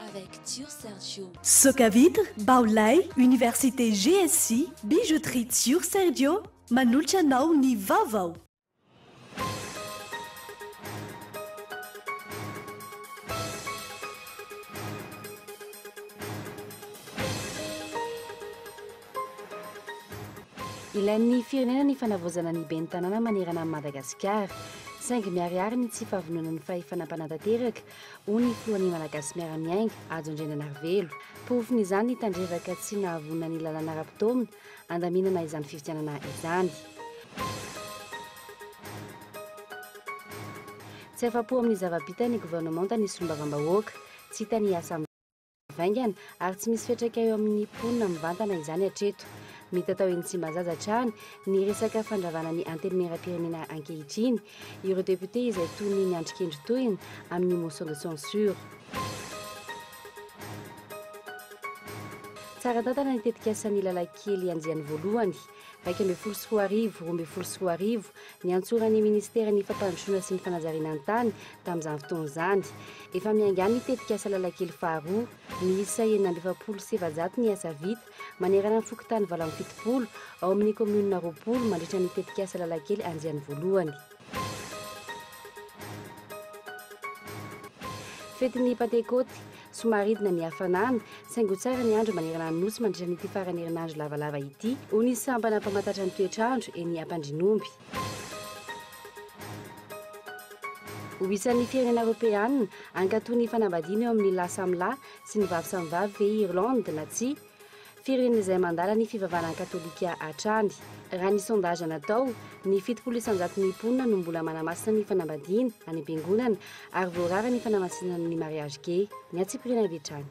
Avec Tio Sergio. Soca vitre, bao lay, université GSJ, bijouterie Tio Sergio, manolotra anao ny vaovao. Ilain'ny firenena ny fanavaozana ny ben'ny tanàna manerana an'i Madagasikara. Saingy miharihary ny tsy fahavononan'ny fahefana mpanatanteraka hoy ny filohan'ny Malagasy miara-miainga, Hajo Andriananarivelo. Porofon'izany ny tandrevaka tsy nahavonona ny lalàna ara-potoana handaminana izany fifidianana izany. Tsy afa-po amin'ny zava-bita ny governemanta ny solombavambahoaka, tsy hita ny asa vaingana ary tsy misy fiantraika eo amin'ny mponina mivantana izany hatreto. Mita tao eny Tsimbazaza hatrany ny resaka fandravana ny Antenimierampirenena ankehitriny ireo députés izay toy ny niandry kendry tohina amin'ny motion de censure. Tsara tantana ny tetikasa ny lalankely andiany voalohany. iraika ambin'ny folo sy roa arivo, roa ambin'ny folo sy roa arivo, niantsoran'ny Minisiteran'ny Fampandrosoana sy ny Fanajariana ny Tany tamin'izany fotoana izany. Efa miainga any ny tetikasa Lalakely faharoa. Miisa enina amby efapolo sy efajato ny asa vita, manerana ny fokontany valo amby fitopolo, ao amin'ny kaominina roapolo, mandritra ny tetikasa Lalakely andiany voalohany. Fetin'ny Pantekoty, Somaridina ny hafanana, saingy ho tsara ny andro manerana ny Nosy mandritra an'ity faran'ny herinandro lavalava ity, hoy ny sampana mpamantatra ny toetr'andro eny Ampandrinomby. Ho isan'ny firenena Eoropeana, hankatò ny fanambadiana eo amin'ny lahy samy lahy sy ny vavy samy vavy ve i Irlande na tsia? firen'izay mandala ny fivavahana katolika hatrany. Raha ny sondage natao, ny fitopolo isanjaton'ny mponina no mbola manamasina ny fanambadiana any am-piangonana ary voarara ny fanamasinana ny mariage gay. Ny antsipiriany avy hatrany.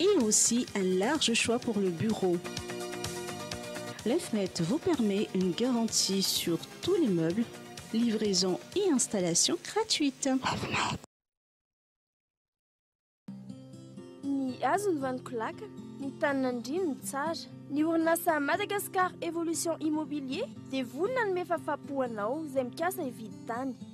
et aussi un large choix pour le bureau. Lefnet vous permet une garantie sur tous les meubles, livraison et installation gratuite. Lefnet. Ny hazo ny vaniko laka, ny tany nandriany ny tsara. Ny orinasa Madagascar Evolution Immobilier dia vonona hanome fahafahampo anao izay mikasa hividy tany.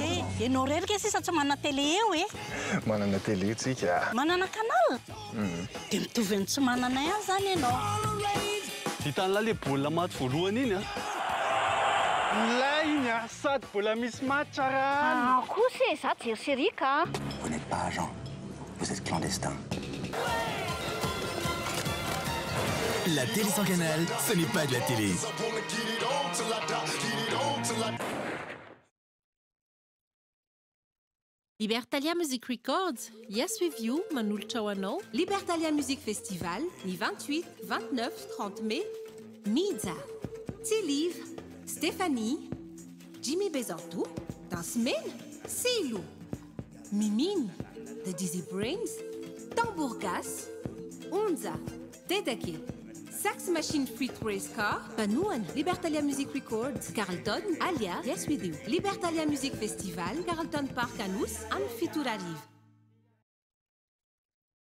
Eh, ianao irery kay sisa tsy manana télé eo eh? Manana télé tsika. Manana canal? Dia mitovy amin'ny tsy manana ihany izany ianao. Vitan'la le baolina maty voalohany iny an! Milay iny a! Sady mbola misy match ara alina. Aah kosa e, za jery série ka. Vous n'êtes pas agent. Vous êtes clandestin. La télé sans canal, ce n'est pas de la télé. Libertalia Music Records, Yes With You manolotra ho anao Libertalia Music Festival ny 28, 29, 30 Mai Mija, Tsiliv, Stéphanie, Jimmy Bezanto, Dansemena, Silo, Mimino, The Dizzy Brains, Tambour Gasy, Onja, Dedeke, Sax Machine feat Race Car, Mpanohana, Libertalia Music Records, Carlton, Alia, Yes We Do, Libertalia Music Festival, Carlton Park Anosy, amin'ny fito ora hariva.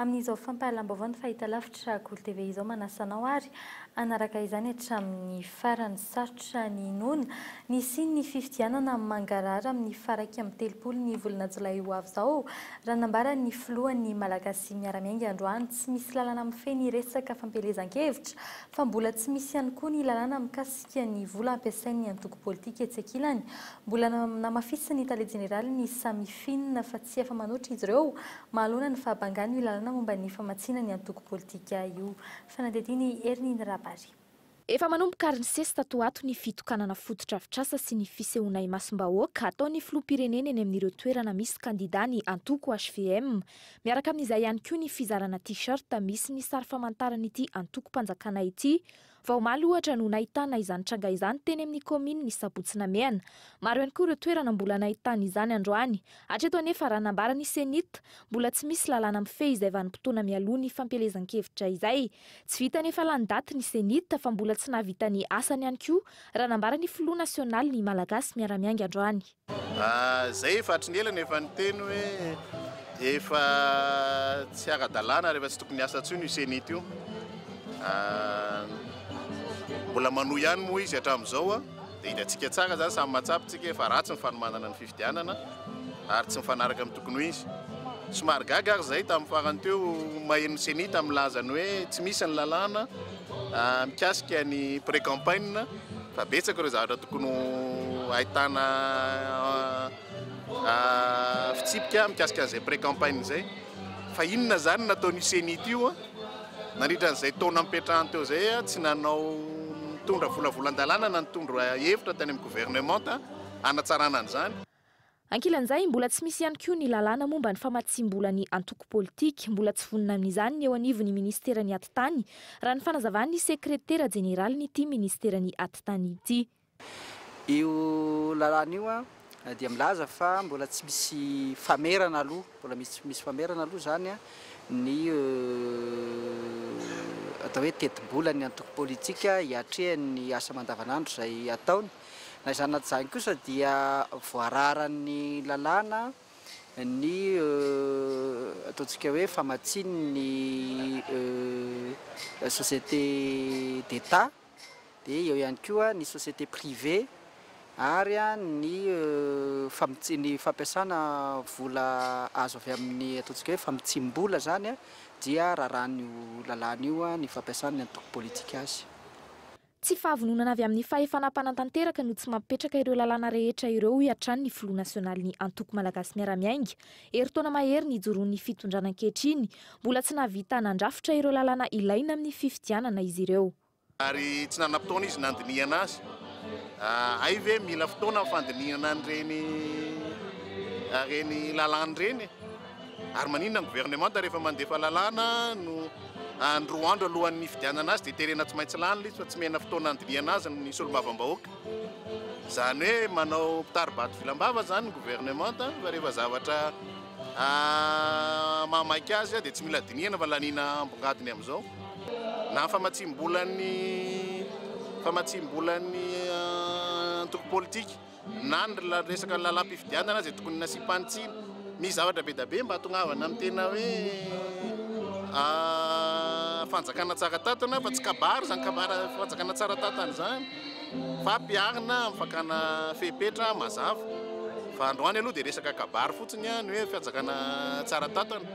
Amin'izao fampahalam-baovao ny fahitalavitra Golo TV izao manasa anao ary hanaraka izany hatramin'ny farany. Sarotra ny hinoana, nisian'ny fifidianana mangarahara amin'ny faha iraika amby telopolo ny volana jolay ho avy izao, raha nambaran'ny filohan'ny Malagasy miara-miainga androany. Tsy misy lalàna mifehy ny resaka fampielezan-kevitra fa mbola tsy misy ihany koa ny lalàna mikasika ny vola ampiasain'ny antoko politika etsy ankilany. Mbola namafisin'ny tale jeneraly ny Samifin fa tsy afa-manoatra izy ireo Mahaloana ny fahabangan' io lalàna momba ny famatsiana ny antoko politika io. Fanadihadiana i Hermine Rabary. Efa manomboka ary nisesy tato ho ato ny fitokanana fotodrafitrasa sy ny fisehoana imasom-bahoaka ataon'ny filoham-pirenena eny amin'ireo toerana misy kandidà ny antoko hvm. Miaraka amin'izay ihany koa ny fizarana T-shirt misy ny sary famantaran'ity antokom-panjakana ity Vao omaly ohatra no nahitana izany tranga izany teny amin'ny kaominina ny Sabotsy Namehana. Maro ihany koa ireo toerana mbola nahitana izany androany. Hatreto anefa raha nambaran'ny Cenit, mbola tsy misy lalàna mifehy izay vanim-potoana mialoha ny fampielezan-kevitra izay. Tsy vita anefa lany daty ny Cenit fa mbola tsy nahavita ny asany ihany koa raha nambaran'ny filoha nasionalin'ny Malagasy miara-miainga androany. Izay efa hatry ny ela no efa niteny hoe efa tsy ara-dalàna ary efa tsy tokony hiasa intsony io Cenit io. Mbola manohy ihany moa izy hatramin'izao dia hitantsika tsara izany, samy mahatsapa isika fa ratsy ny fanomanana ny fifidianana ary tsy mifanaraka amin'ny tokony ho izy. Somary gaga ary izahay tamin'ny farany teo maheno ny Cenit milaza ny hoe tsy misy ny lalàna mikasika ny pré-campagne. Fa betsaka ireo zavatra tokony ho ahitana fitsipika mikasika an'izay pré-campagne izay. Fa inona izany nataon'io ceni ity io nandritra an'izay taona nipetrahany teo izay? Tsy nanao nitondra volavolan-dalàna na nitondra hevitra tany amin'ny governemanta hanatsarana an'izany. Ankilan'izay, mbola tsy misy ihany koa ny lalàna momba ny famatsiam-bola ny antoko politika. Mbola tsy vonona amin'izany ny eo anivon'ny minisiteran'ny Atitany, raha ny fanazavan'ny sekretera jeneralin'ity minisiteran'ny Atitany ity. Io lalàna io dia milaza fa mbola tsy misy famerana aloha, mbola tsy misy famerana aloha izany ny atao hoe tetibolan'ny antoko politika hiatrehany ny asa aman-davanandro izay ataony. Na izany na tsy izany kosa dia voararan'ny lalàna ny ataontsika hoe famatsian'ny société d'Etat, dia eo ihany koa ny société privée ary ny ny fampiasana vola azo avy amin'ny ataontsika hoe famitsim-bola izany dia rarahan'io lalàna io ny fampiasana ny antoko politika azy. Tsy fahavononana avy amin'ny fahefana mpanatanteraka no tsy mampipetraka ireo lalàna rehetra ireo hoy hatrany ny filoha nasionalin'ny Antoko Malagasy Miara-Miainga. Herintaona mahery nijoroan'ny fitondrana ankehitriny, mbola tsy nahavita nandrafitra ireo lalàna ilaina amin'ny fifidianana izy ireo. Ary tsy nanam-potoana izy nandinihana azy. Hay ve mila fotoana ny fandinihana an'ireny lalàna ireny e? Ary maninona ny gouvernemanta rehefa mandefa lalàna no any roa andro alohan'ny nifidianana azy dia terena tsy maintsy lany ilay izy fa tsy mihena fotoana handinihana azy ny solombavambahoaka? Izany hoe manao mpitari-bato vilam-bava izany ny gouvernemanta fa rehefa zavatra mahamaika azy dia tsy mila dinihana fa laniana ambongadiny amin'izao. Na ny famatsiam-bolan'ny famatsiam-bolan'ny antoko politika. na ny resaka lalam-pifidianana izay tokony nasiam-pany tsiny, misy zavatra be dia be mba atongavana amin'ny tena hoe fanjakana tsara tantana fa tsy kabary izany kabary fanjakana tsara tantana izany fa mpiarina amin'ny fakana fepetra mazava fa androany aloha dia resaka kabary fotsiny ny hoe fanjakana tsara tantana.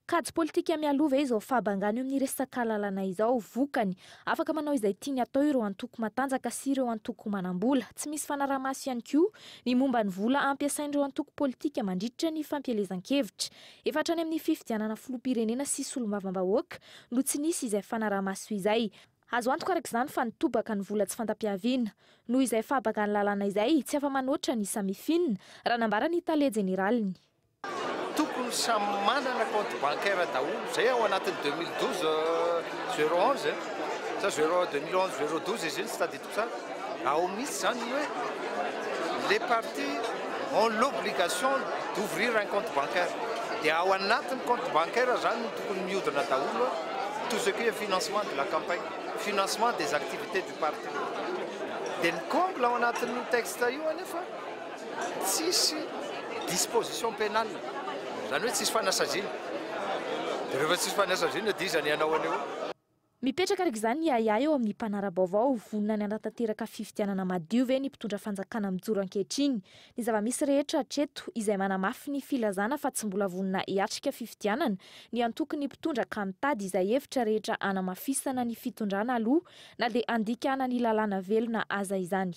Kajy politika mialoha ve izao fahabangana eo amin'ny resak'alalana izao? Vokany, afaka manao izay tiany atao ireo antoko matanjaka sy ireo antoko manam-bola. Tsy misy fanaraha-maso ihany koa ny momba ny vola ampiasain'ireo antoko politika mandritra ny fampielezan-kevitra. Efa hatrany amin'ny fifidianana filoham-pirenena sy solombavambahoaka no tsy nisy izay fanaraha-maso izay. Azo antoka araka izany fa nitobaka ny vola tsy fanta-piaviana. Noho izay fahabangan'ny lalàna izay, tsy afa-manoatra ny samifinina, raha nambara ny tale jeneraliny. Tokony samy manana compte bancaire daholo zay ao anatin'ny deux mille douze zero onze sa zero deux mille onze zero douze izy iny tsy tadidiko tsara ao mihitsy zany ny hoe les partis ont l'obligation d'ouvrir un compte bancaire dia ao anatin'ny compte bancaire zany no tokony miodina daholo tout ce qui est financement de la campagne, financement des activités du parti dia ny comble ao anatin'io texte io anefa Tsisy disposition pénale, izany hoe tsisy fanasaziana. Dia rehefa tsisy fanasaziana dia iza ny hanao an'io? Mipetraka araka izany ny ahiahy eo amin'ny mpanara-baovao, vonona ny hanatanteraka fifidianana madio ve ny mpitondra fanjakana mijoro ankehitriny? Ny zava-misy rehetra hatreto, izay manamafy ny filazana fa tsy mbola vonona hiatrika fifidianana ny antokon'ny mpitondra ka mitady izay hevitra rehetra hanamafisana ny fitondrana aloha na dia handikana ny lalàna velona aza izany.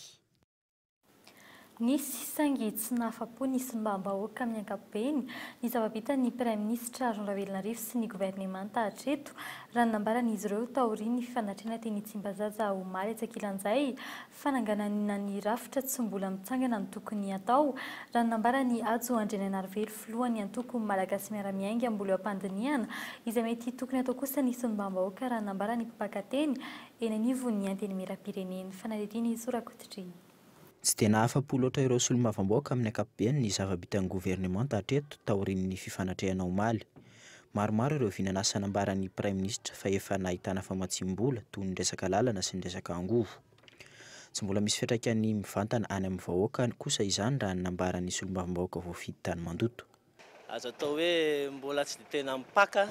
Nisy saingy tsy nahafa-po ny simbam-bahoaka amin'ny ankapobeny ny zava-bitan'ny Praiminisitra Rony Ravelonarivo sy ny governemanta hatreto raha ny nambaran'izy ireo taorian'ny fifanatrehana teny Tsimbazaza omaly etsy ankilan'izay fananganana ny rafitra tsy mbola mitsangana ny tokony hatao raha ny nambaran'i Hajo Andrianainarivelo filohan'ny antoko Malagasy Miara-miainga Ambolo-Ampandinihana izay mety tokony hatao kosa ny simbam-bahoaka raha ny nambaran'ny mpaka teny eny anivon'ny Antenimierampireneny, fanadihadiana Jesosy Rakotodreny. Tsy dia nahafa-po loatra ireo solombavambaoka amin'ny ankapobeny ny zava-bitan'ny governemanta hatreto taorian'ny fifanatrehana omaly. Maromaro ireo vinan'asa nambaran'ny praiminisitra fa efa nahitana famatsiam-bola toy ny resaka lalana sy ny resaka angovo. Tsy mbola misy fiantraikany mivantana any amin'ny vahoaka kosa izany raha ny nambaran'ny solombavambahoaka voafidy tany Mandoto. Azo atao hoe mbola tsy dia tena mipaka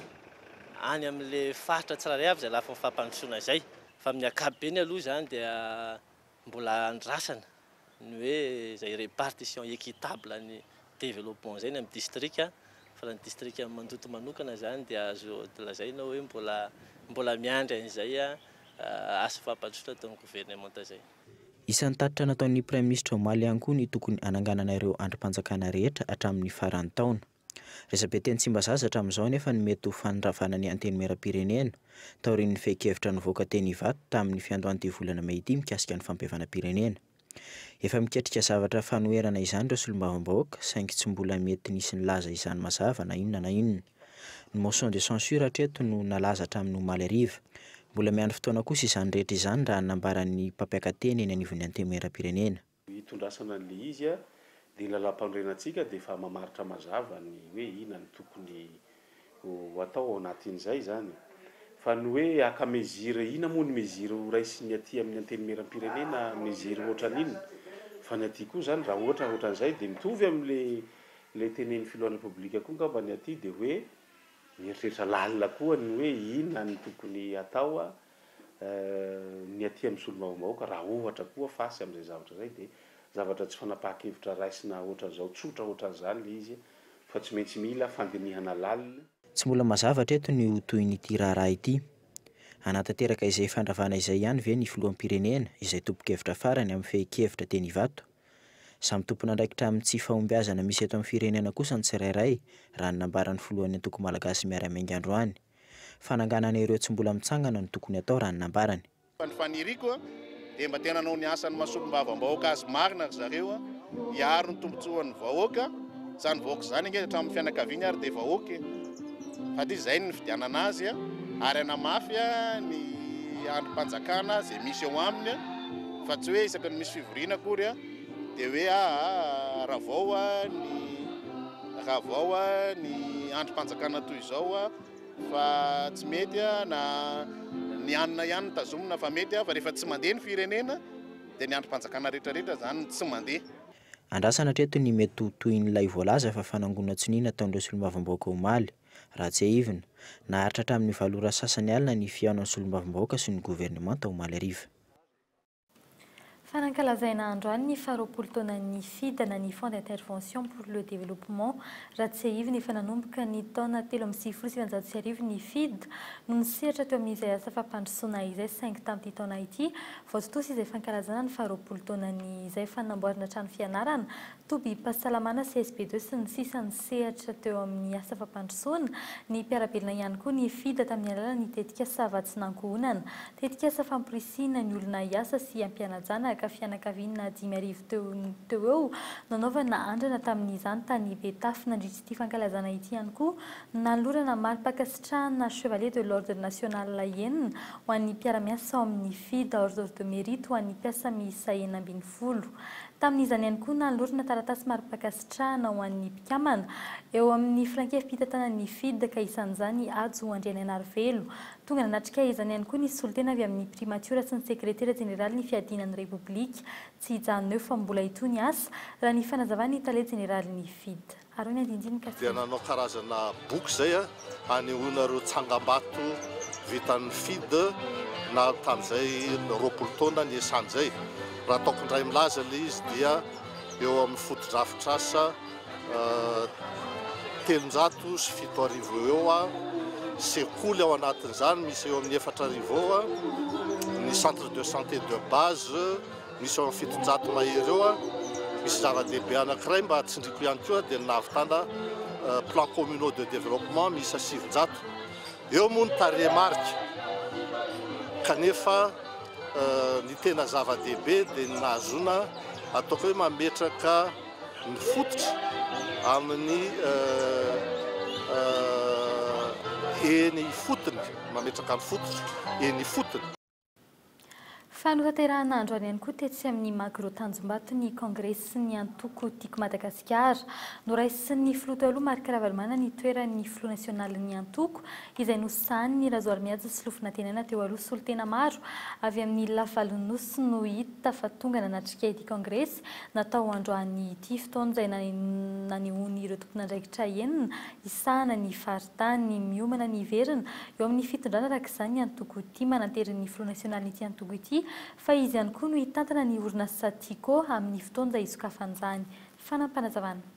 any amin'ilay faritra tsirairay avy izay lafiny fampandrosoana izay. Fa amin'ny ankapobeny aloha izany dia mbola andrasana ny hoe izay répartition équitable ny développement izay ny amin'ny distrika. Fa raha ny distrikan'i Mandoto manokana izany dia azo lazaina hoe mbola mbola miandry an'izay asa fampandrosoana ataon'ny governemanta izay. Isan'ny tatitra nataon'ny Praiminisitra omaly ihany koa ny tokony hananganana ireo andrim-panjakana rehetra hatramin'ny faran'ny taona. Resabe teny Tsimbazaza hatramin'izao anefa ny mety ho fanondravana ny Antenimierampirenena, taorian'ny fehin-kevitra nivoaka teny Ivato tamin'ny fiandohan'ity volana mey ity mikasika ny fampihavanam-pirenena. Efa miketrika zavatra fanoherana izany ireo solombavambahoaka, saingy tsy mbola mety nisy nilaza izany mazava na inona na inona. Ny motion de censure hatreto no nalaza hatramin'ny omaly hariva. Mbola miandry fotoana kosa izany rehetra izany raha ny nambaran'ny mpampiaka teny eny anivon'ny Antenimierampirenena. Ny hitondrasana an'ilay izy dia ny lalàmpanorenantsika dia efa mamaritra mazava ny hoe inona no tokony ho atao ao anatin'izay izany. Fa ny hoe haka mesure inona moa ny mesure ho raisin'ny aty amin'ny Antenimierampirenena, mesure ohatran'inona? Fa ny aty koa izany raha ohatra ohatran'izay dia mitovy amin'ilay Ilay tenenin'ny filohan'ny Repoblika koa angamba ny aty dia hoe mieritreritra lalina koa ny hoe inona no tokony hatao ny aty amin'ny solombavambahoaka raha ohatra koa face amin'izay zavatra izay dia zavatra tsy fanapahan-kevitra raisina ohatran'izao tsotra ohatran'izany ilay izy fa tsy maintsy mila fandinihana lalina. Tsy mbola mazava hatreto ny ho tohin'ity raharaha ity. Hanatanteraka izay fandravana izay ihany ve ny filoham-pirenena izay tompon-kevitra farany amin'ny fehin-kevitra teny Ivato? Samy tompon'andraikitra amin'ny tsy fahombiazana misy eto amin'ny firenena kosa ny tsirairay, raha ny nambaran'ny filohan'ny antoko malagasy miara-miainga androany. Fananganana ireo tsy mbola mitsangana no tokony atao raha ny nambarany. Fa ny faniriako dia mba te hanao ny asan'ny maha-solombavambahoaka azy marina ry zareo, hiaro ny tombontsoan'ny vahoaka, izany vahoaka izany ange hatramin'ny fianakaviany ary dia vahoaka e! Sady izy izay no nifidianana azy ary hanamafy ny andrim-panjakana izay misy eo aminy. Fa tsy hoe isaky ny misy fivoriana akory dia hoe aa ravao ny ravao ny andrim-panjakana toy izao fa tsy mety na ny anona ihany no tazomina fa mety fa rehefa tsy mandeha ny firenena dia ny andrim-panjakana rehetrarehetra izany no tsy mandeha. Andrasana hatreto ny mety ho tohin'ilay voalaza fa fanangonan-tsonia nataon'ireo solombavambahoaka omaly, raha tsiahivina. Naharitra hatramin'ny valo ora sasany alina ny fihaonan'ny solombavambahoaka sy ny governemanta omaly hariva. Fa nankalazaina androany ny faharoapolo taonan'ny Fida na ny Fonds d'intervention pour le développement. Raha tsiahivina, efa nanomboka ny taona telo amby sivifolo sy sivinjato sy arivo ny Fida no nisehatra teo amin'izay asa fampandrosoana izay saingy tamin'ity taona ity vao tontosa izay fankalazana ny faharoapolo taonany izay fa namboarina trano fianarana tobim-pahasalamana CSP deux sy ny sisa ny sehatra teo amin'ny asa fampandrosoana ny mpiara-belona ihany koa ny FIDA tamin'ny alalan'ny tetikasa Vatsinankohonana, tetikasa famporisihina ny olona hiasa sy hampianajana ka fianakaviana dimy arivo teo teo eo nanaovana andrana tamin'izany tany Betafo nandritra ity fankalazana ity ihany koa no nanolorana mari-pankasitrahana Chevalier de l'Ordre National enina ho an'ny mpiara-miasa ao amin'ny FIDA Ordre de Mérite ho an'ny mpiasa miisa enina ambin'ny folo. Tamin'izany ihany koa, nanolorana taratasy mari-pankasitrahana ho an'ny mpikambana eo amin'ny filankevi-pitantanana ny FIDD ka isan'izany i Hajo Andrianaianarivelo. Tonga nanatrika izany ihany koa ny solontena avy amin'ny Primatiora sy ny Sekretera Jeneralin'ny Fiadiana ny Repoblika. Tsy hijanona eo fa mbola hitohy ny asa, raha ny fanazavan'ny Tale Jeneralin'ny FIDD. Aroy ny andindinika fito. Dia nanao karazana boky izay hanehoana ireo tsangambato vitan'ny FIDH nahary tamin'izay roapolo taona niasany izay. Raha ataoko indray milaza ilay izy dia eo amin'ny fotodrafitrasa telonjato sy fito arivo eo eo, sekoly ao anatin'izany misy eo amin'ny efatra arivo eo, ny centre de santé de base, Misy eo amin'ny fitonjato mahery eo. Misy zava-dehibe anankiray mba tsindriako ihany koa dia ny nahavitana plans communaux de développement miisa sivinjato. Eo moa ny tarehimarika kanefa ny tena zava-dehibe dia ny nahazoana ataoko hoe mametraka ny fototra amin'ny eny ifotony, mametraka ny fototra eny ifotony. Fanatanterahana androany ihany koa tetsy amin'ny Magro Tanjombato ny Kongresin'ny Antoko Tiako Madagasikara. Noraisin'ny Filoha teo aloha Marc Ravalomanana ny toeran'ny Filoha Nasionalin'ny Antoko izay nosahanin'i Razoarimihaja sy Lofonantenaina teo aloha. Solontena maro avy amin'ny lafivalon'ny Nosy no hita fa tonga nanatrika ity Kongresy natao androany ity. Fotoana izay nanehoan'ireo tomponandraikitra enina hisahana ny faritra. tany miomana ny hiverina eo amin'ny fitondrana araka izany ny antoko Tia mananterin'ny filoha nasionalin'ity antoko ity fa izy ihany koa no hitantana ny orinasa Tiko amin'ny fotoanja hisokafan'izany fanampanazavana.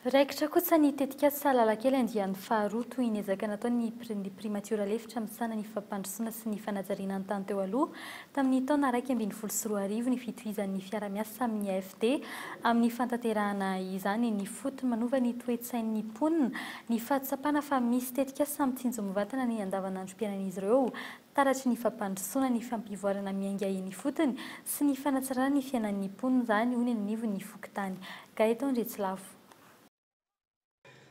Raikitra kosa ny tetikasa Salalakely andiany faharoa toy ny ezaka nataon'ny ny Primatiora lefitra misahana ny fampandrosoana sy ny fanajariana ny tany teo aloha tamin'ny taona iraika ambin'ny folo sy roa arivo ny fitohizan'ny fiara-miasa amin'ny AFD amin'ny fantanterahana izany ny fotony manova ny toe-tsain'ny mponina ny fahatsapana fa misy tetikasa mitsinjo mivantana ny andavanandrom-piainan'izy ireo Taratry ny fampandrosoana ny fampivoarana miainga eny ifotony sy ny fanatsarana ny fiainan'ny mponina izany, hoy ny anivon'ny fokontany. Gaëtan Andriatsilafo.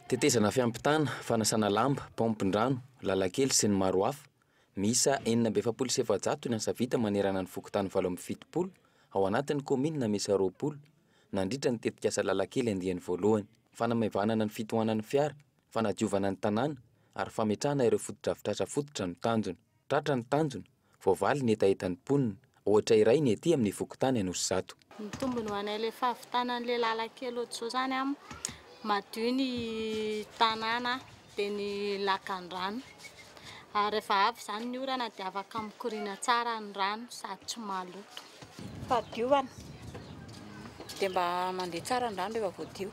Tetezana fiampitana, fanasana lamba, paompin-drano, lalan-kely sy ny maro hafa. Miisa enina amby efapolo sy efajato ny asa vita manerana ny fokontany valo amby fitopolo ao anatin'ny kaominina miisa roapolo, nandritra ny tetikasa lalan-kely andiany voalohany. Fanamaivanana ny fitohanan'ny fiara, fanadiovana ny tanàna ary fametrahana ireo fotodrafitrasa fototra no tanjona. Tratra ny tanjona, voavaly ny hetahetan'ny mponina, ohatra iray ny ety amin'ny fokontany Anosizato. Mitombona ho anay ilay fahavitana an'ilay lalan-kely ohatr'izao izany an, madio ny tanàna dia ny lakandrano ary rehefa avy izany ny orana dia afaka mikoriana tsara ny rano sady tsy maloto. Fahadiovana, dia mba mandeha tsara ny rano rehefa voadio.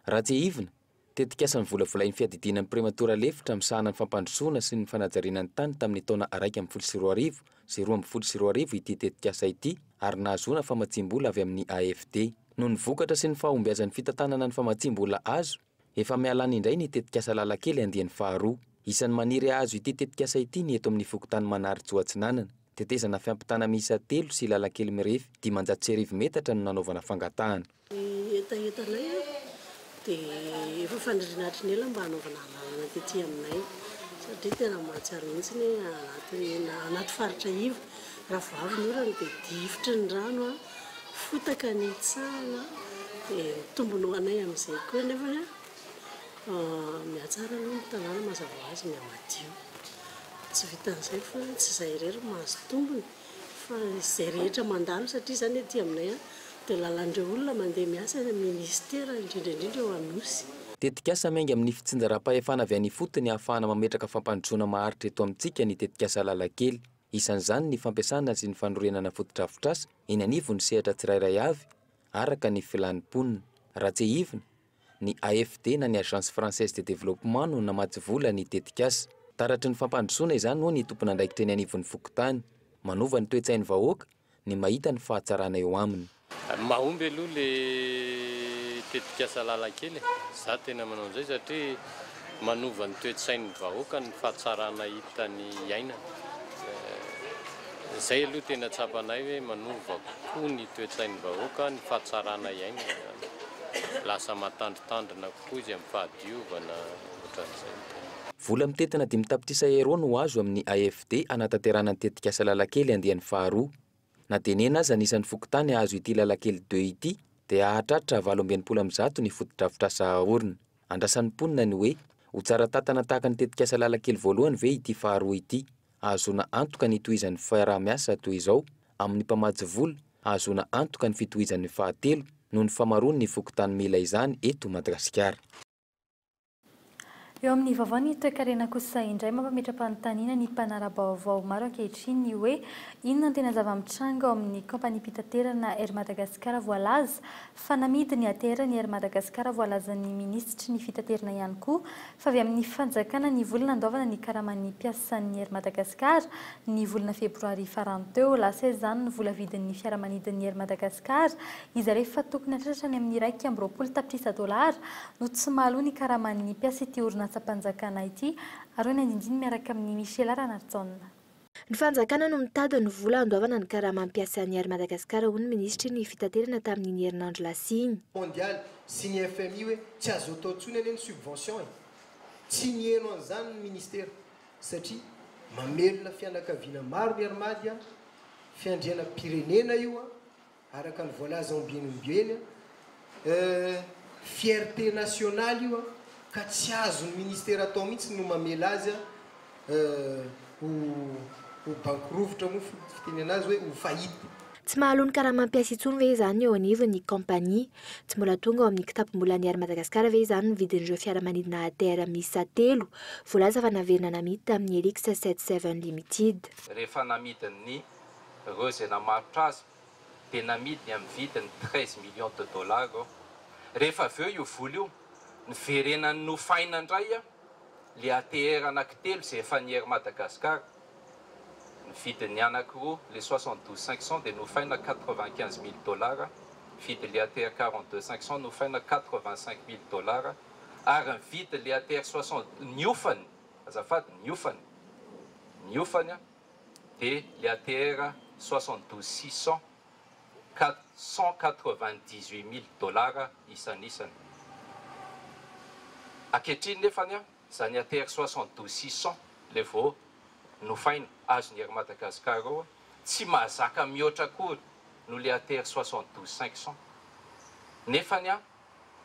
Raha tsiahivina, tetikasa novolavolain'ny Fiadidiana ny Prematora Lefitra misahana ny Fampandrosoana sy ny Fanajariana ny Tany tamin'ny taona iraika ambin'ny folo sy roa arivo sy roa ambin'ny folo sy roa arivo ity tetikasa ity ary nahazoana famatsiam-bola avy amin'ny AFD. Noho ny vokatra sy ny fahombiazan'ny fitantanana ny famatsiam-bola azo, efa mihalany indray ny tetikasa Lalan-kely andiany faharoa. Isan'ny maniry hahazo ity tetikasa ity ny eto amin'ny Fokontany Manarijo Atsinanana. Tetezana fiampitana miisa telo sy lalan-kely mirefy dimanjato sy arivo metatra no nanaovana fangatahana. Ny hetahetanay dia efa faniriana hatry ny ela mba hanaovana lalana tety aminay satria tena mahatsiaro mihitsy ny hoe anaty faritra iva raha vao avy ny orana dia difotry ny rano, fotaka ny hitsahana dia mitombona ho anay amin'izay koa nefa. Mihatsara aloha ny tanàna mazava ho azy mia madio. Tsy vitan'izay fa tsy izay irery no mahazo tombony fa izay rehetra mandalo satria izany aty aminay dia lalan'ireo olona mandeha miasa eny amin'ny minisitera indrindra indrindra eo Anosy. Tetikasa miainga amin'ny fitsinjaram-pahefana avy any ifotony ahafahana mametraka fampandrosoana maharitra eto amintsika ny tetikasa Lalan-kely. Isan'izany ny fampiasana sy ny fanorenana fotodrafitrasa eny anivon'ny sehatra tsirairay avy araka ny filàn'ny mponina. Raha tsiahivina, Ny AFD na ny Agence Française de Développement no namatsy vola ny tetikasa. Taratry ny fampandrosoana izany hoy ny tompon'andraikitra eny anivon'ny fokontany. Manova ny toe-tsain'ny vahoaka ny mahita ny fahatsarana eo aminy. Mahomby aloha le tetikasa lalan-kely e! Za tena manao an'izay satria Manova ny toe-tsain'ny vahoaka ny fahatsarana hitany iainana. Izay aloha tena tsapanay hoe manova kokoa ny toe-tsain'ny vahoaka ny fahatsarana iainana izany. Lasa mahatandrintandrina kokoa izy amin'ny fahadiovana, ohatran'izay ny tenany. Vola mitentina dimy tapitrisa Euro no azo amin'ny AFD hanatanterahana ny tetikasa Lalakely andiany faharoa. Na dia enina aza ny isan'ny fokontany azo ity Lalakely deux ity dia hahatratra valo amby enimpolo amin'ny zato ny fotodrafitrasa haorina. Andrasan'ny mponina ny hoe, ho tsara tantana tahaka ny tetikasa Lalakely voalohany ve ity faharoa ity? Hahazoana antoka ny hitohizan'ny fiaraha-miasa toy izao amin'ny mpamatsy vola, hahazoana antoka ny fitohizan'ny fahatelo noho ny famaroan'ny fokontany mila izany eto Madagasikara. Eo amin'ny vaovao ny toekarena kosa indray mampametra-panontaniana ny mpanara-baovao maro ankehitriny ny hoe inona no tena zava-mitranga ao amin'ny kaompaniam-pitaterana Air Madagascar voalaza fa namidy ny ATR ny Air Madagascar voalazan'ny minisitry ny fitaterna ihany koa fa avy amin'ny fanjakana ny vola nandoavana ny karaman'ny mpiasan'ny Air Madagascar ny volana febroary farany teo lasa izany ny vola vidin'ny fiaramanidin'ny Air Madagascar Iza re fa tokony hatratra any amin'ny iraika amby roapolo tapitrisa dolara no tsy mahaloa ny karaman'ny mpiasa ity orinatsam-panjakana ity ary hoy ny andindiny miaraka amin'i Michela Ranarijaona. Ny fanjakana no mitady ny vola handoavana ny karamam piasan'ny Air Madagascar hoy ny minisitry ny fitaterana tamin'iny herinandro lasa iny. Mondialy sy ny fmi hoe tsy azo atao intsony anie ny subvention e! Tsy niheno an'izany ny ministera satria mamelona fianakaviana maro ny Air Madi a! Fiandrianam-pirenena io a! Araka ny voalaza ao ambiny omby eny an, fierté nationale io an, ka tsy azon'ny ministera atao mihitsy no mamela azy an ho ho banky rovitra moa ny fitenena azy hoe ho faillite. Tsy mahaloa ny karama mpiasa intsony ve izany eo anivon'ny kaompania? Tsy mbola tonga ao amin'ny kitapom-bolan'ny Air Madagascar ve izany ny vidin'ireo fiaramanidina ATR miisa telo voalaza fa naverina namidy tamin'ny Helix Sept Seven Limited? Rehefa namidin'ny ireo izay namarotra azy dia namidiny amin'ny vidiny treize millions de dollars aho. Rehefa avy eo io vola io niverenany nofaina indray ilay ATR anankitelo izay efa nier Madagascar. Ny vidin'ny anankiroa ilay soixante douze cinq cents dia nofaina quatre vingt quinze mille dollars, vidin'ilay ATR quarante deux cinq cents nofaina quatre vingt cinq mille dollars ary ny vidin'ilay ATR soixante niofany, azafady niofany, niofany an! dia le ATR soixante douze six cent ka cent quatre vingt dix huit mille dollars isanisany. Ankehitriny nefany an, izany ATR soixante douze six cent le vao nofaina azon'i Air Madagascar eo an, tsy mahazaka mihoatra akory noho le ATR soixante douze cinq cent. Nefany an,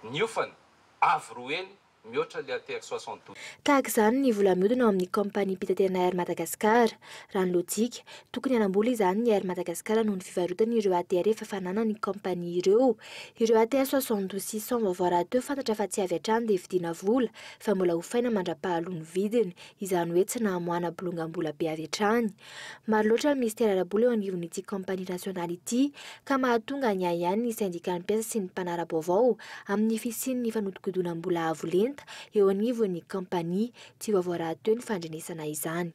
niofana avo roa heny mihoatra le ATR soixante douze. Tahaka izany ny vola mihodina ao amin'ny kaompaniam-pitaterana Air Madagascar. Raha ny lojika, tokony hanam-bola izany ny Air Madagascar noho ny fivarotany ireo ATR efa fananany kaompania ireo. Ireo ATR soixante douze six cent vaovao rahateo fantatra fa tsy avy hatrany dia vidiana vola fa mbola hofaina mandra-pahaloa ny vidiny. Izany hoe tsy nahamoahana bolongam-bola be avy hatrany. Maro loatra ny minisitera ara-bola eo anivon'ity kaompania nasionaly ity, ka mahatonga ny ahiahy ny sendikan'ny mpiasa sy ny mpanara-baovao amin'ny fisian'ny fanodikodinam-bola avo lenta eo anivon'ny kaompania tsy vaovao rahateo ny fandrenesana izany.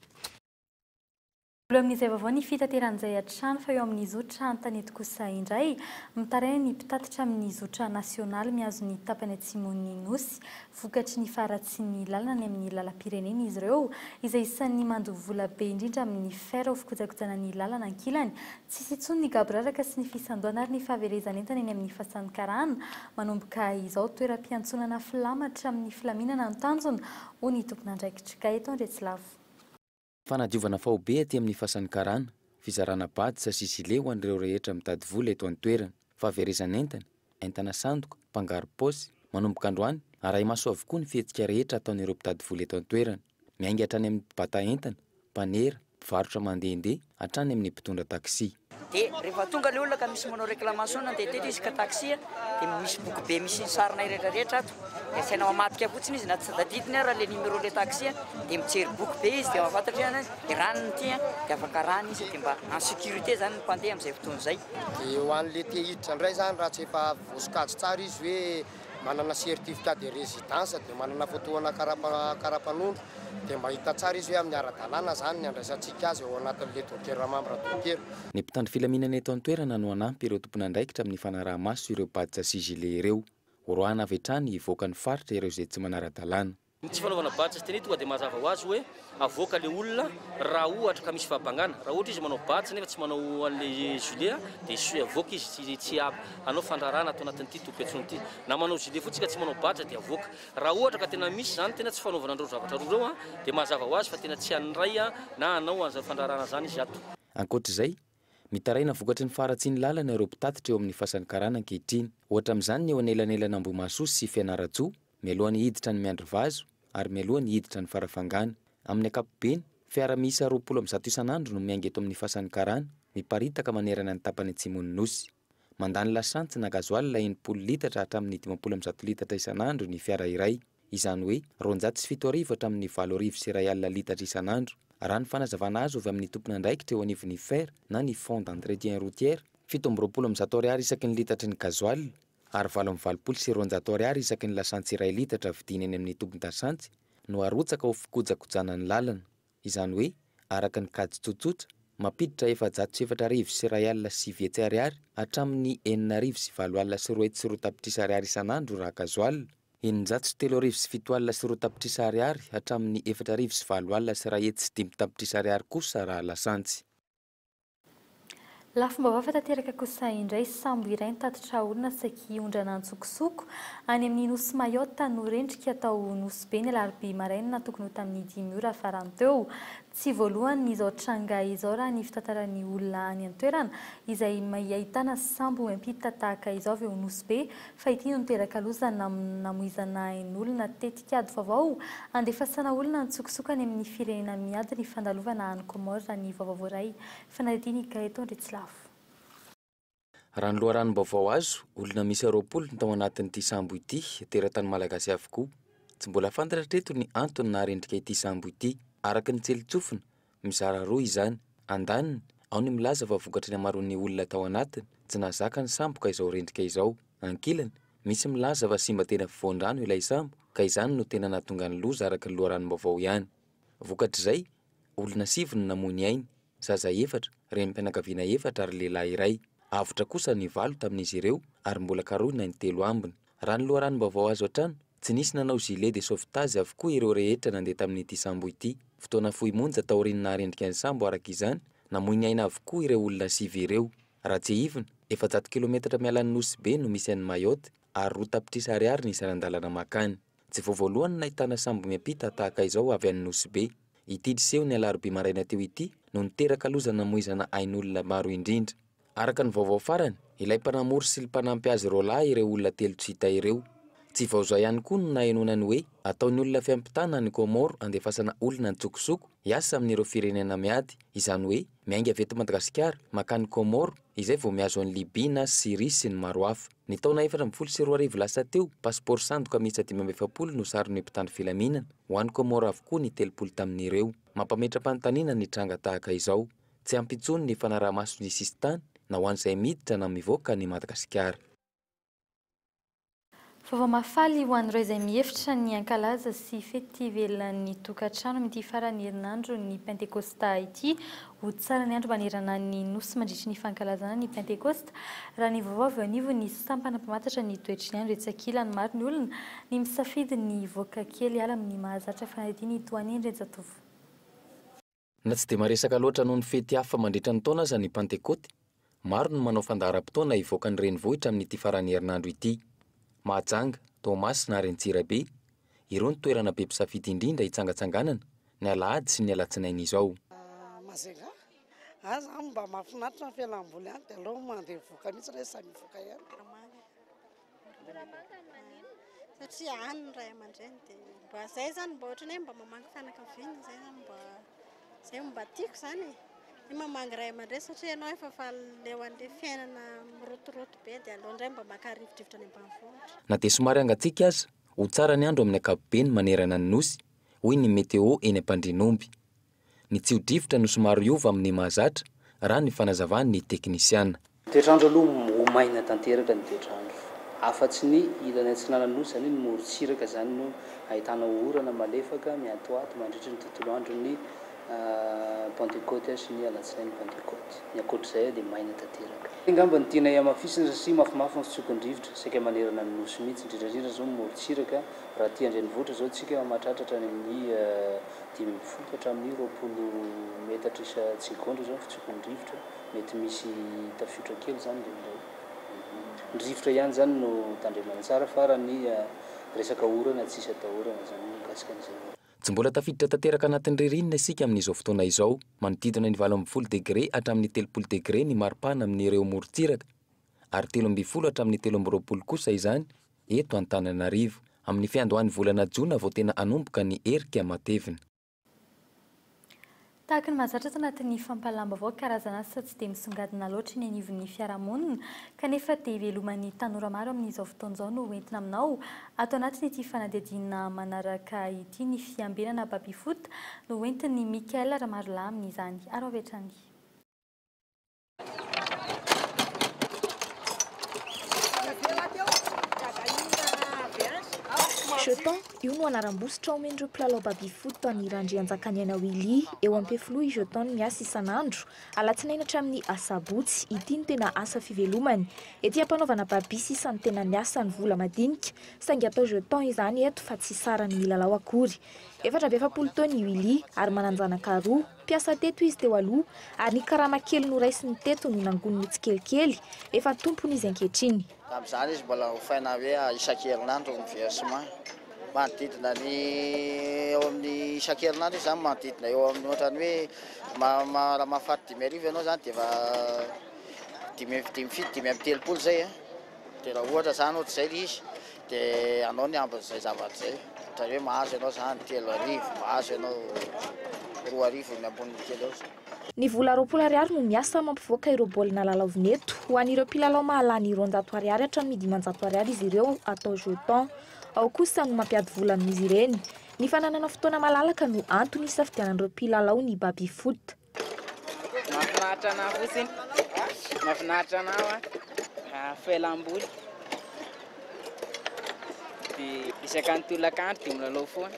Mbola amin'izay vaovao ny fitateran'izay hatrany fa eo amin'ny zotra an-tanety kosa indray, mitaraina ny mpitatitra amin'ny zotra nasionaly mihazo ny tapany atsimon'ny Nosy, vokatry ny faharatsian'ny lalana any amin'ny lalam-pirenena izy ireo, izay isan'ny mandoa vola be indrindra amin'ny fer ho fikojakojana ny lalana ankilany. Tsy hisy intsony ny gaboraraka sy ny fisandoana ary ny fahaverezan'entana eny amin'ny fasan'ny karana. Manomboka izao, toeram-piantsonana filamatra amin'ny filaminana no tanjona, hoy ny tompon'andraikitr'Ikay eto Andriatsilavo. Fanadiovana faobe aty amin'ny fasan'ny karana, fizarana badisa sy zile ho an'ireo rehetra mitady vola eto an-toerana. Fahaverezan'entana, entana sandoka, mpangaro-paosy, manomboka androany, arahi-maso avokoa ny fihetsika rehetra ataon'ireo mpitady vola eto an-toerana. Miainga hatrany amin'ny mpibata entana, mpanera, mpivarotra mandehandeha, hatrany amin'ny mpitondra taxi. Dia rehefa tonga ilay olona ka misy manao reclamation-na dia teto izy ka taxi dia misy boky be misy ny sarinay rehetra rehetra ato dia asaina mamadika fotsiny izy na tsy tadidiny ara ilay numéro ilay taxi dia mijery boky be izy dia mahafantatra hoe dia rano ny ity dia afaka rano izy dia mba en sécurité izany ny mpandeha amin'izay fotoana izay. Dia ho an'ilay te hiditra indray izany raha tsy efa voasokajy tsara izy hoe. manana certificat de residence dia manana fotoana karapanondro dia mba hita tsara izy hoe amin'ny ara-dalàna izany ny handraisantsika azy ao anatin'ilay docker membre docker. Ny mpitandro filaminana eto an-toerana no hanampy ireo tompon'andraikitra amin'ny fanaraha-maso ireo badge sy gilets ireo. Horoahana avy hatrany hivoaka ny faritra ireo izay tsy manara-dalàna. Ny tsy fanaovana badge sy tenue tonga dia mazava ho azy hoe avoaka ilay olona raha ohatra ka misy fahabangana. Raha ohatra izy manao badge nefa tsy manao an'ilay gilet dia su avoaka izy tsy tsy hanao fandrarana ato anatin'ity tobim-piantsoana ity. Na manao gilet fotsiny ka tsy manao badge dia avoaka. Raha ohatra ka tena misy izany tena tsy fanaovana an'ireo zavatra roa ireo dia mazava ho azy fa tena tsy handray na hanao an'izany fandrarana izany izy ato. Ankoatra izay, mitaraina vokatry ny faharatsian'ny lalana ireo mpitatitra eo amin'ny fasan'ny karana ankehitriny. Ohatra amin'izany ny eo anelanelan'Ambohimahasoa sy Fianarantsoa, Mialoha ny hiditra ny miandry vazo ary mialoha ny hiditra ny farafangana. Amin'ny ankapobeny, fiara miisa roapolo amby zato isan'andro no miainga eto amin'ny fasan'ny karana, miparitaka manerana ny tapany atsimon'ny Nosy. Mandany lasantsy na gazoala enimpolo litatra hatramin'ny dimampolo amby zato litatra isan'andro ny fiara iray, izany hoe roanjato sy fito arivo hatramin'ny valo arivo sy iray alina litatra isan'andro. Raha ny fanazavana azo avy amin'ny tompon'andraikitra eo anivon'ny fer na ny Fonds d'entretien routier, fito amby roapolo amby zato ariary isaky ny litatry ny gazoala ary valo amby valopolo sy roanjato ariary isaky ny lasantsy iray litatra vidiana eny amin'ny tobin-dasantsy no arotsaka ho fikojakojana ny lalana, izany hoe araka ny kajy tsotsotra, mampiditra efajato sy efatra arivo sy iray alina sy sivy hetsy ariary hatramin'ny enina arivo sy valo alina sy roa hetsy sy roa tapitrisa ariary isan'andro raha kazoala, eninjato sy telo arivo sy fito alina sy roa tapitrisa ariary hatramin'ny efatra arivo sy valo alina sy iray hetsy sy dimy tapitrisa ariary kosa raha lasantsy. Lafim-baovao hafa tanteraka kosa indray, sambo iray nitatitra olona saiky hiondrana an-tsokosoko any amin'ny nosy Mayotte no rendrika tao Nosy Be ny alarobia maraina tokony ho tamin'ny dimy ora farany teo. Tsy voalohany izao tranga izao raha ny fitantaran'ny olona any an-toerana izay miahitana sambo miampita tahaka izao avy ao Nosy Be Fa ity no niteraka loza namin namoizana ain olona tetik ady vaovao handefasana olona antsokosoko any amin ny firenena miady ny fandalovana any Comores raha ny vaovao voaray fanadidin i Gaëton Ritsilafo. Raha ny loharanom-baovao azo, olona miisa roapolo ny tao anatin'ity sambo ity, teratany Malagasy avokoa. Tsy mbola fantatra hatreto ny antony naharendrika ity sambo ity, araka ny tsilintsofina. Mizara roa izany. Andaniny, ao ny milaza fa vokatry ny hamaroan'ny olona tao anatiny, tsy nahazaka ny sambo ka izao rendrika izao. Ankilany, misy milaza fa simba teny afovoan-drano ilay sambo ka izany no tena nahatonga ny loza araka ny loharanom-baovao ihany. Vokatr'izay, olona sivy no namoy ny ainy, zaza efatra, renim-pianakaviana efatra ary lehilahy iray. Avotra kosa ny valo tamin'izy ireo ary mbola karohina ny telo ambiny. Raha ny loharanom-baovao azo hatrany, Tsy nisy nanao gilet de sauvetage avokoa ireo rehetra nandeha tamin'ity sambo ity. Fotoana fohy monja taorian'ny naharendrika ny sambo araka izany, namoy ny aina avokoa ireo olona sivy ireo. Raha tsiahivina, efajato kilometatra miala an'i Nosy Be no misy an'i Mayotte ary roa tapitrisa ariary ny isan'andalana mankany. Tsy vao voalohany no nahitana sambo miampita tahaka izao avy any Nosy Be. Ity niseho ny alarobia maraina teo ity no niteraka loza namoizana ain'olona maro indrindra. Araka ny vaovao farany, ilay mpanamory sy lmpanampy azy roalahy ireo olona telo tsy hita ireo. Tsy vao izao ihany koa no nahenoana ny hoe ataon'ny olona fiampitana any Comores andefasana olona an-tsokosoko hiasa amin'ireo firenena miady, izany hoe miainga avy eto Madagasikara mankany Comores izay vao mihazo an'i Libye na Syrie sy ny maro hafa. Ny taona efatra ambin'ny folo sy roa arivo lasa teo, pasipaoro sandoka miisa dimy amby efapolo no saron'io mpitandro filaminana, ho any Comores avokoa ny telopolo tamin'ireo. Mampametra-panontaniana ny tranga tahaka izao. Tsy ampy intsony ny fanaraha-maso ny sisin-tany na ho an'izay miditra na mivoaka an'i Madagasikara. Vaovao mahafaly ho an'ireo izay mihevitra ny hankalaza sy fety ivelan'ny tokantrano amin'ity faran'ny herinandron'ny Pentekosta ity ho tsara ny andro manerana ny Nosy mandritry ny fankalazana ny Pentekosta raha ny vaovao avy eo anivon'ny sampana mpamantatra ny toetry ny andro etsy ankilany maro ny olona ny misafidy ny hivoaka kely hiala amin'ny mahazatra fanadihadiana itohan'ny Andrianjatovo Na tsy dia maresaka loatra noho ny fety hafa mandritra ny taona aza ny Pantekôty, maro no manao fandaharam-potoana hivoaka ny renivohitra amin'ity faran'ny herinandro ity. Mahajanga, Toamasina ary Antsirabe, ireo no toerana be mpisafidy indrindra hitsangatsanganana, ny alahady sy ny alatsinainy izao. Majunga, any izany mba mahafinaritra ny fialamboly any dia aleo mandeha mivoaka mihitsy rehefa samy hivoaka ihany. Ramangany maninona? Satria any ny ray aman-dreny dia mba zay zany mba ohatran'ny hoe mba mamangy fianakaviana zay zany mba zay mba tiako zany e. Ny mamangy ray aman-dreny satria ianao efa faly leo an'le fiainana mirotoroto be dia aleo indray mba maka rivodrivotra any ambanivohitra. Na dia somary hangatsiaka aza, ho tsara ny andro amin'ny ankapobeny manerana ny Nosy, hoy ny Météo eny Ampandrianomby. Ny tsio-drivotra no somary hiova amin'ny mahazatra, raha ny fanazavan'ny teknisiana. Toetr'andro aloha ho maina tanteraka ny toetr'andro. Afa-tsy ny ilany atsinanan'ny Nosy, izany hoe ny morontsiraka izany no ahitana orana malefaka miantoato mandritra ny tontolo andron'ny Pantekoty sy ny alatsinain'ny Pantekoty. Ny ankoatra izay dia maina tanteraka. Angamba ny tianay hamafisina satria mafimafy ny fitsokon-drivotra saika manerana ny Nosy mihitsy, indrindra indrindra izao ny morontsiraka, raha aty an-drenivohitra izao isika mahatratratra any amin'ny. dimy amby folo ka hatramin'ny roapolo metatra isa-tsegaondra izao ny fitsopin'ny rivotra, mety misy tafiotra kely izany indraindray. Ny rivotra ihany izany no tandremana tsara fa raha ny resaka orana tsy isa-dahorana izany mikasika an'izay orana. Tsy mbola tafiditra tanteraka anatin'ny ririnina isika amin'izao fotoana izao. Manodidina ny valo ambin'ny folo degre hatramin'ny telopolo degre ny mari-pana amin'ireo morontsiraka. ary telo ambin'ny folo hatramin'ny telo amby roapolo kosa izany eto Antananarivo. Amin'ny fiandohan'ny volana jona vao tena hanomboka ny herika matevina. Tahaka ny mahazatra ato anatin'ny fampahalam-baovao, karazana asa tsy dia misongadina loatra eny anivon'ny fiarahamonina, kanefa te hiveloman'ny tanora maro amin'izao fotoana izao no hoentina aminao. Ato anatin'ity fanadihadiana manaraka ity ny fiambenana baby foot no hoentin'i Michael Ramarolahy amin'izany. Araho avy hatrany. Jeton, io no anaram-bositra omen'ireo mpilalao baby-foot an'i Randrianjakaniaina Willy. Eo Ampefiloha i Jeton miasa isan'andro, alatsinainy hatramin'ny asabotsy. Ity no tena asa fivelomany. Ety am-panaovana baby sisa no tena miasa ny vola madinika, saingy atao jeton izany eto fa tsy saran'ny milalao akory. Efatra amby efapolo taona i Willy ary manan-janaka roa. Mpiasa teto izy teo aloha, ary ny karama kely noraisiny teto no nangoniny tsikelikely, efa tompony izy ankehitriny. Tamin'izany izy mbola hofaina hoe isan-kerinandro ny versement. Manodidina ny eo amin'ny isan-kerinandro izy izany manodidina eo amin'ny ohatrany hoe raha mahafaty dimy arivo ianao izany dia efa dimy, dimy fito, dimy amby telopolo izay. Dia raha ohatra izany hoatr izay ilay izy dia anao ny ambin izay zavatra izay. Ohatra hoe mahazo ianao izany telo arivo, mahazo ianao roa arivo ny ambonin kely eo izay. Ny vola roapolo ariary no miasa mampivoaka ireo baolina lalaovina eto. Ho an'ireo mpilalao mahalany roanjato ariary hatramin'ny dimanjato ariary izy ireo atao jetons. Ao kosa no mampiady vola amin'izy ireny. Ny fananana fotoana malalaka no antony isafidianan'ireo mpilalao ny baby foot. Mahafinaritra anah fotsiny, mahafinaritra anah hoa felam-boly de isaka ny tolakandro de milalao foana.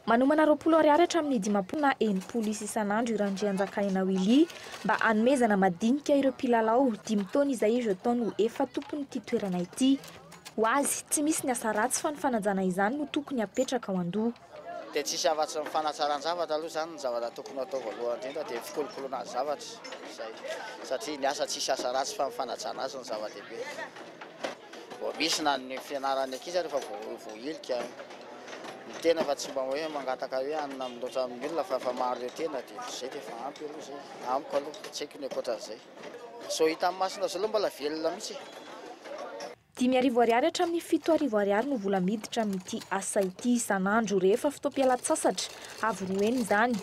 Manomana roapolo ariary hatramin'ny dimampolo na enimpolo isa isan'andro i Randrianjakaina Willy mba hanomezana madinika ireo mpilalao dimy taona izay i Jeton ho efa tompon'ity toerana ity. Ho azy, tsy misy ny asa ratsy fa ny fanajana izany no tokony hapetraka ao an-doha. Dia tsisy afatsy ny fanatsaran-javatra aloha izany ny zavatra tokony hatao voalohany indrindra dia fikolokoloana ny zavatra izay satria ny asa tsisy asa ratsy fa ny fanajana azy no zava-dehibe. Vao misy na ny fianaran'ny ankizy ary efa voahilika ny tena fa tsy mba hoe mangataka hoe hanina loatra amin'ny olona fa efa maro ireo tena dia izay dia efa ampy aloha izay amiko aloha, tsy haiko ny ankoatran'izay. Izao hitan'ny masonao izao aloha mbola velona mihitsy e! Dimy arivo ariary hatramin'ny fito arivo ariary no vola miditra amin'ity asa ity isan'andro rehefa fotoam-pialan-tsasatra, avy roa heny izany.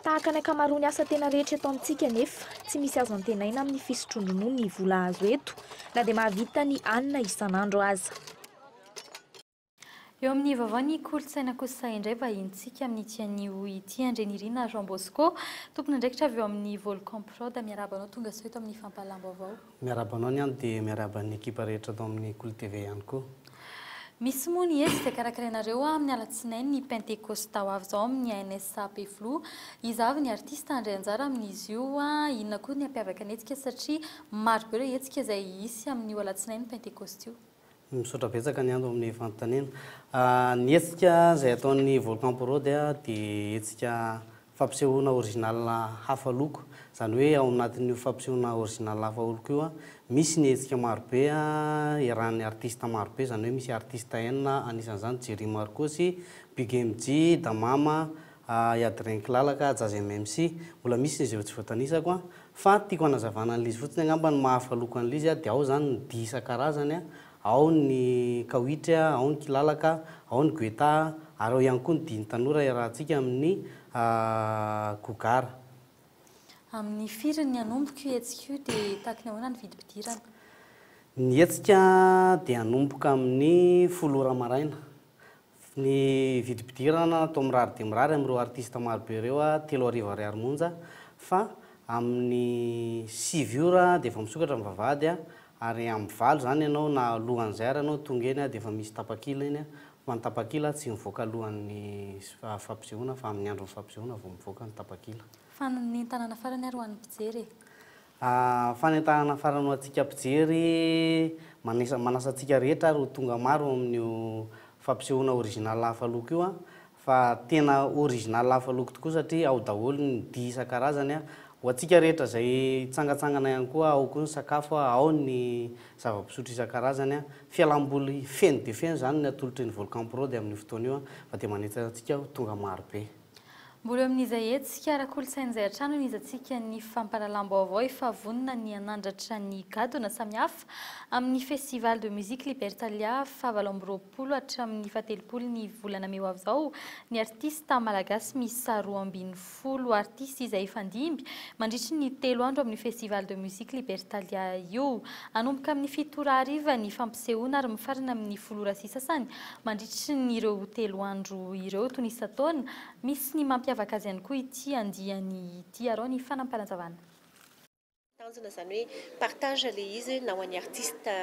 Tahaka ny ankamaroan'ny asa tena rehetra eto amintsika anefa, tsy misy azo antenaina amin'ny fisotroan-dronono ny vola azo eto, na dia mahavita ny alina isan'andro aza. Eo amin'ny vaovao ny kolontsaina kosa indray vahinintsika amin'ity anio ity. Andrianirina Jean Bosco, tompon'andraikitra avy eo amin'ny Volcan Prod, miarahaba anao tonga soa eto amin'ny fampahalam-baovao. Miarahaba anao ny ahy dia miarahaba ny ekipa rehetra ato amin'ny Kolo TV ihany koa. Misy moa ny hetsika karakarainareo amin'ny alatsinainy ny pentekosta ho avy izao amin'ny ANSA Ampefiloha. Iza avy ny artista handray anjara amin'izy io? Inona koa ny hampiavaka ny hetsika satria marobe ireo hetsika izay hisy amin'io alatsinainy pentekosta io? Misaotra betsaka ny Ando amin'ny fanontaniana. Ny hetsika izay ataon'ny Volcan Pro dia dia hetsika fampisehoana original hafa loko. Izany hoe ao anatin'io fampisehoana original hafa loko io misy ny hetsika maro be iarahan'ny artiste maro be, izany hoe misy artiste enina anisan'izany Jerry Marcosy, Big MJ, Damama, Yadrin Kilalaka, Jazz MMC. Mbola misy izay tsy voatanisako Fa tiako hanazavana an'l'izy fotsiny angamba ny mahafaloko an'l'izy dia ao zany ny dihy isan-karazany, ao ny kawitry, ao ny kilalaka, ao ny guetà, ary ao ihany koa ny dihin'ny tanora iarahantsika amin'ny gogara. Amin'ny firy ny hanomboka io hetsika io dia tahaky ny ahoana ny vidim-pidirana? Ny hetsika dia hanomboka amin'ny folo ora maraina, Ny vidim-pidirana atao mirary dia mirary amin'ireo artista maro be ireo, telo arivo ariary monja, fa amin'ny sivy ora dia efa misokatra ny vavahady, ary amin'ny valo izany ianao na alohan'izay ary ianao tonga eny dia efa misy tapakila eny, fa ny tapakila tsy mivoaka alohan'ny fampisehoana fa amin'ny andron'ny fampisehoana vao mivoaka ny tapakila. Fa ny tanàna farany ary ho an'ny mpijery e! A Fanentanana farany ho antsika mpijery, manisa manasa antsika rehetra ary ho tonga maro ao amin'io fampisehoana original hafa loko io a, fa tena original hafa loko tokoa satria ao daholo ny dihy isan-karazany a, ho antsika rehetra izay hitsangatsangana ihany koa, ao koa ny sakafo a, ao ny zava-pisotro isan-karazany a, fialam-boly feno dia feno izany ny atolotry ny Volcan Prod amin'io fotoana io a, fa dia manentana antsika ho tonga maro be. Mbola eo amin'iza hetsika ara-kolontsaina izay hatrany no niezantsika ny fampahalalam-baovao efa vonona ny hanandratra ny gadona samihafa amin'ny Festival de Musique Libertalia fahavalo amby roapolo hatramin'ny fahatelopolo ny volana mey ho avy izao ny artista malagasy miisa roa ambin'ny folo artista izay hifandimby mandritry ny telo andro amin'ny Festival de Musique Libertalia io. Hanomboka amin'ny fito ora hariva ny fampisehoana ary mifarana amin'ny folo ora sy sasany Mandritry ny ireo telo andro ireo toy ny isan-taona, misy ny mampiavaka azy ihany koa ity andiany ity arao ny fanampanan-javana. Tanjona izany hoe partage ilay izy na ho an'ny artista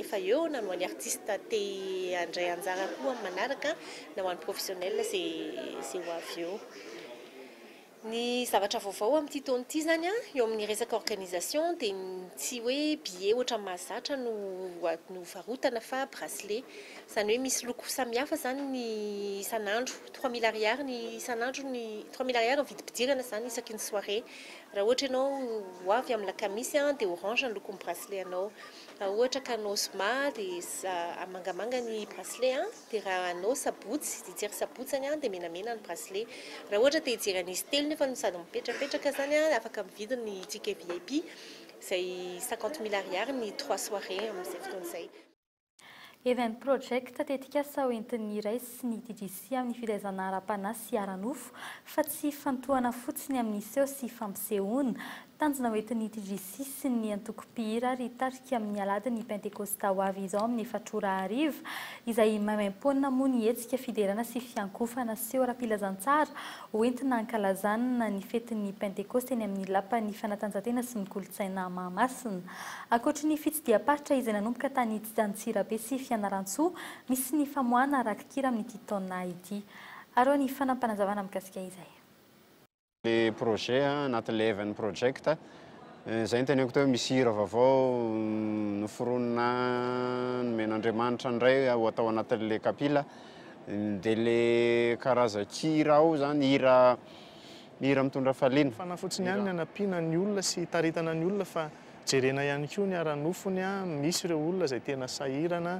efa eo na ny ho an'ny artista te handray anjara koa amin'ny manaraka na ho an'ny professionnel izay izay ho avy eo. Ny zavatra vaovao amin'ity taona ity izany an, eo amin'ny resaka organisation dia tsy hoe billet ohatran'ny mahazatra no no varotana fa bracelet. Izany hoe misy loko samihafa izany ny isan'andro. Trois mille ariary ny isan'andro ny trois mille ariary ny vidim-pidirana izany isaky ny soirée. Raha ohatra ianao ho avy amin'ny lakamisy an dia orange ny lokon'ny bracelet anao. Raha ohatra ka anao zoma dia mangamanga ny bracelet an. Dia raha anao sabotsy, hijery sabotsy zany an, dia menamena ny bracelet. Raha ohatra te hijery an'izy telo nefa no sady mipetrapetraka zany an, afaka mividy ny ticket vip, izay cinquante mille ariary ny trois soirées amin'izay fotoana izay. Event Project, tetikasa hoentin'ny Irais sy ny DGC amin'ny fitaizana ara-panahy sy ara-nofo fa tsy hifantohana fotsiny amin'ny seho sy fampisehoana. Tanjona ho entin'ny TGC sy ny antoko mpihira ary hitarika amin'ny Aladin'ny Pentekôsta ho avy izao amin'ny efatra ora hariva, izay maimaimpoana moa ny hetsika fiderana sy fiankohofana seho ara-pilazantsara ho entina hankalazana ny fetin'ny Pentekôsta eny amin'ny Lapan'ny Fanatanjahantena sy ny Kolontsaina Mahamasina. Ankoatry ny fitsidiham-paritra izay nanomboka tany Antsirabe sy Fianarantsoa, misy ny famoahana rakikira amin'ity taona ity. Aroa ny fanapanazavana mikasika izay. le projet anaty Leven project zay ny teneniko teo misy hira vaovao noforonina nomen'Andriamanitra indray ho atao anatin'le kapila de le karazan-kira ao zany hira hira mitondra hafaliana. Fanahy fotsiny ihany ny hanampiana ny olona sy hitaritana ny olona fa jerena ihany koa ny ara-nofony an, misy ireo olona izay tena sahirana.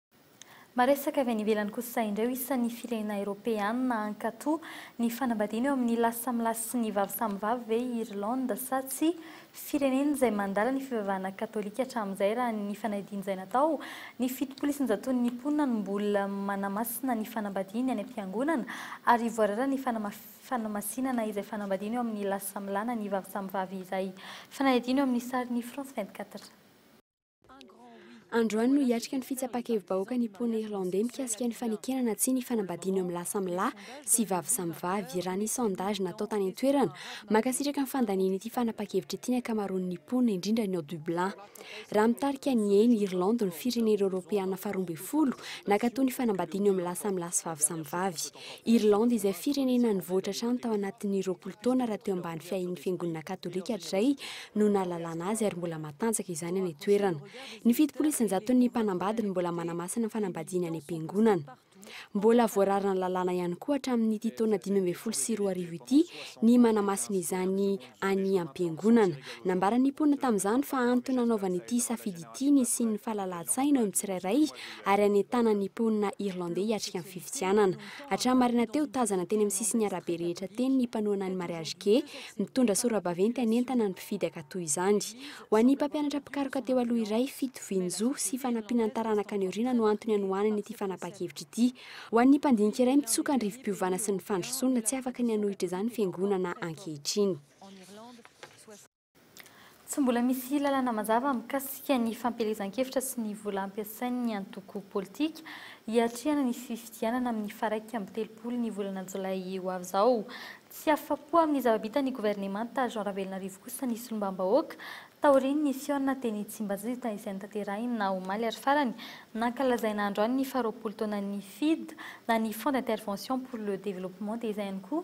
Maresaka avy any ivelany kosa indray ho isan'ny firenena eropeanina hankato ny fanambadiana eo amin'ny lahy samy lahy sy ny vavy samy vavy ve i Irlande sa tsia? Firenena izay mandala ny fivavahana katolika hatramin'izay raha ny fanadin'izay natao. Ny fitopolo isan-jaton'ny mponina no mbola manamasina ny fanambadiany any am-piangonana ary voarara ny fanamasinana izay fanambadiana eo amin'ny lahy samy lahy na ny vavy samy vavy iray. Fanadihadiana eo amin'ny sarin'i France 24. Androany no hiatrika ny fitsapan-kevi-bahoaka ny mponin'i Irlandey mikasika ny fanekena na tsia ny fanambadiana eo amin'ny lahy samy lahy sy vavy samy vavy. Raha ny sondage natao tany an-toerana, mankasitraka ny fandaniana ity fanapahan-kevitra ity ny ankamaroan'ny mponina, indrindra ny ao Dublin. Raha mitarika ny eny Irlande ny firenena eoropeana faharoa ambin'ny folo nankatoa ny fanambadiana eo amin'ny lahy samy lahy sy vavy samy vavy. Irlande izay firenena nivoatra hatrany tao anatin'ny roapolo taona rahateo ambany fiahian'ny fiangonana katolika hatrizay, no nahalalana azy ary mbola matanjaka izany any an-toerana. Ny fitopolo isan-jaton'ny mpanambady no mbola manamasina ny fanambadiany any am-piangonana. Mbola voararana lalàna ihany koa hatramin'ity taona dimy ambin'ny folo sy roa arivo ity ny manamasina izany any am-piangonana. Nambaran'ny mponina tamin'izany fa antony nanaovany ity safidy ity ny hisian'ny fahalalahan-tsaina eo amin'ny tsirairay ary hanentanany ny mponina irlandey hiatrika ny fifidianana. Hatramin'ny maraina teo, tazana teny amin'ny sisin'ny arabe rehetra teny ny mpanohana ny mariage gay, Mitondra sora-baventy hanentana ny mpifidy hankatò izany. Ho an'ny mpampianatra mpikaroka teo aloha iray, fitovian-jo sy fanampiana ny taranaka any aoriana no antony hanohanany ity fanapahan-kevitra ity. Ho an'ny mpandinika iray mitsoka ny rivo-piovana sy ny fandrosoana, tsy afaka ny hanohitra izany fiangonana ankehitriny. Tsy mbola misy lalana mazava mikasika ny fampielezan-kevitra sy ny vola ampiasain'ny antoko politika hiatrehana ny fifidianana amin'ny faharaika amby telopolo ny volana jolay ho avy izao. Tsy afa-po amin'ny zava-bita ny governemanta Jean Ravelonarivo kosa ny solombambahoaka taorian'ny nisiona teny Tsimbajita izay notanterahina omaly ary farany nankalazaina androany ny faharoapolo taonan'ny FIDH na ny Fonds d'Intervention pour le Développement dia izay ihany koa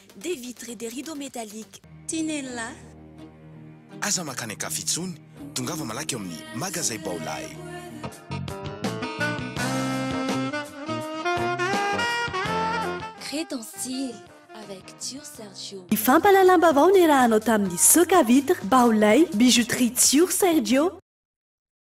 Des vitres et des rideaux métalliques Tinella. Aza makany an-kafa intsony, tongava malaky ao amin'ny Magazay Baolay. Très dans style avec Tio Sergio. Ny fampahalalam-baovao niarahanao tamin'ny Soca Vitres, Baolay, Bijouterie Tio Sergio.